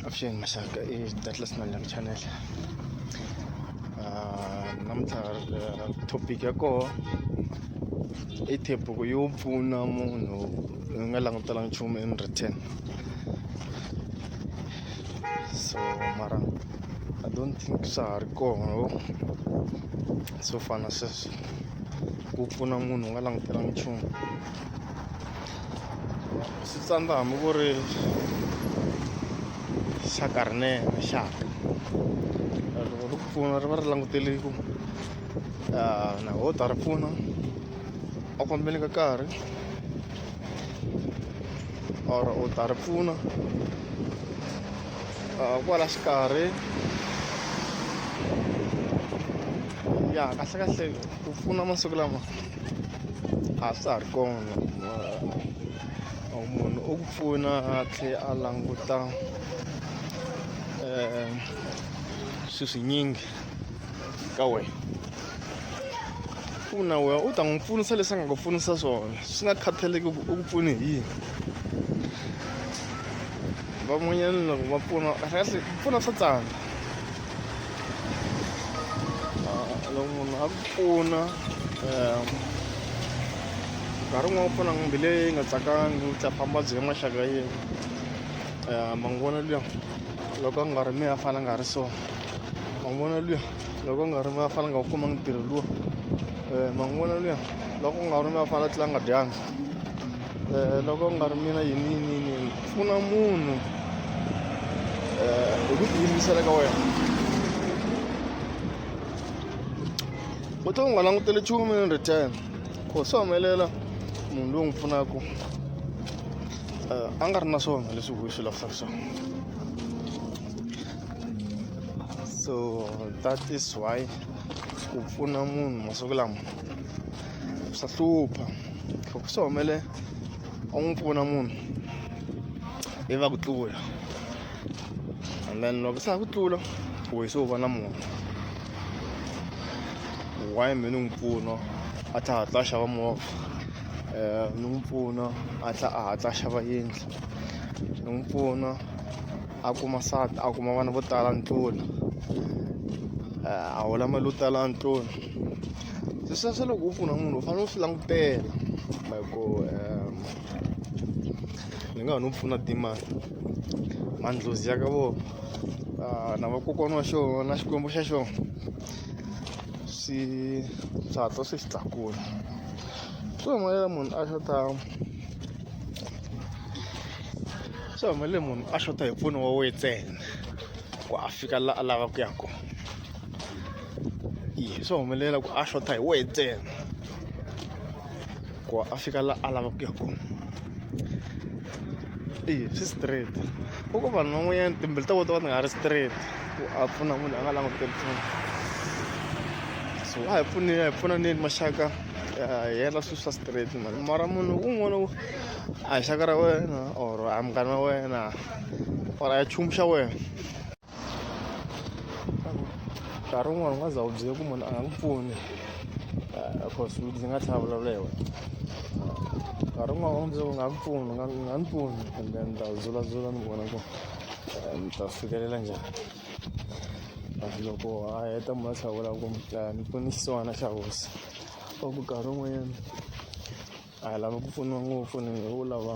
Afshin masaka eh datlas na lang channel. Ah, namthar eh, topic ako i thepo ko yo pfuna munhu u nga langutelanga nchumu in return so mara i don't think swa ha ri kona swo fana sweswo ku pfuna munhu u nga langutelanga nchumu xitsandza hambi ku ri xa karnela xa loko ri ku pfuna ri va ri langutele ku na ho ta ri pfuna a ku fambeni ka karhi or u ta ri pfuna kwala xikarhi ya kahlekahle ku pfuna masiku lama a swa ha ri kona munhu u ku pfuna a tlhela a languta um swi swinyingi ka wena pfuna wena u ta n'wi pfunisa leswi a nga ku pfunisa swona swi nga khathaleki ku u ku pfune hi yini van'wanyana loko va pfuna kahle pfuna swa tsandza loko munhu a ku pfuna um nkarhi wun'wana u pfuna mbilu leyi nga tsakangi u ta famba byi ya maxaka yin'we um mangona luya loko a nga ri mi a fana nga ri so mangona luya loko a nga ri mi a fana nga wu kumanga ntirho luwa um mangona luya loko u nga ri mi a fana tlula nga dyanga Eh, loko ku nga ri mina yini yini yini yini pfuna munhu eh, hi ku tiyimisela ka wena u to u nga langutele nchumu in return ku swi humelela munhu loyi n'wi pfunaka eh, a nga ri na swona leswi huyi swi lavisaka swona so that is why ku pfuna munhu masiku lama swa hlupha loko swi humele u n'wi pfuna munhu i va ku tlula and then loko se a ku tlula wehe se u va na munhu why mi ni n'wi pfuna a tlha hatla a xava movha um ni n'wi pfuna a tlha a hatla a xava yindlu ni n'wi pfuna a kuma nsati a kuma vana vo tala a ndlula a hola mali yo tala a ndlula se sweswo loko u pfuna munhu u fanele u swi langutela hi ku um ni nga ha no pfuna timali mandlozi ya ka vona ah, na vakokwana wa xona na xikwembu xa xona swi swi hatla swi xi tlakula so hi mali ya munhu a xota swi humelele munhu a xota hi mpfuno wa wena ntsena ku a fika laha a lavaka ku ya kona yi swo humelela ku a xota hi wena ntsena ku a fika laha a lavaka ku ya kona eyi swi straight u ko vanhu van'wanyana timbilu ta vona ta va ti nga ri straight ku a pfuna munhu a nga languteli pfuna so a hi pfuneni a hi pfunaneni maxaka yena swilo swa straight mani mara munhu un'wana u a hi xaka ra wena or a munghana wa wena or a chumu xa wena nkarhi wun'wana u nga za u byele ku munhu a nga n'wi pfuni cause ndzi nga tlhela vulavula hi wena nkarhi wun'wana u byele u nga n'wi pfuni nga n'wi pfuni and then ta zulazula ni vona ku ni ta fikelela njhani loko a heta mi va hlawula ku mi pfuna xisiwana xa hosi va ku nkarhi wun'wanyana a hi lava ku pfuniwa ngopfu ni ngo lava.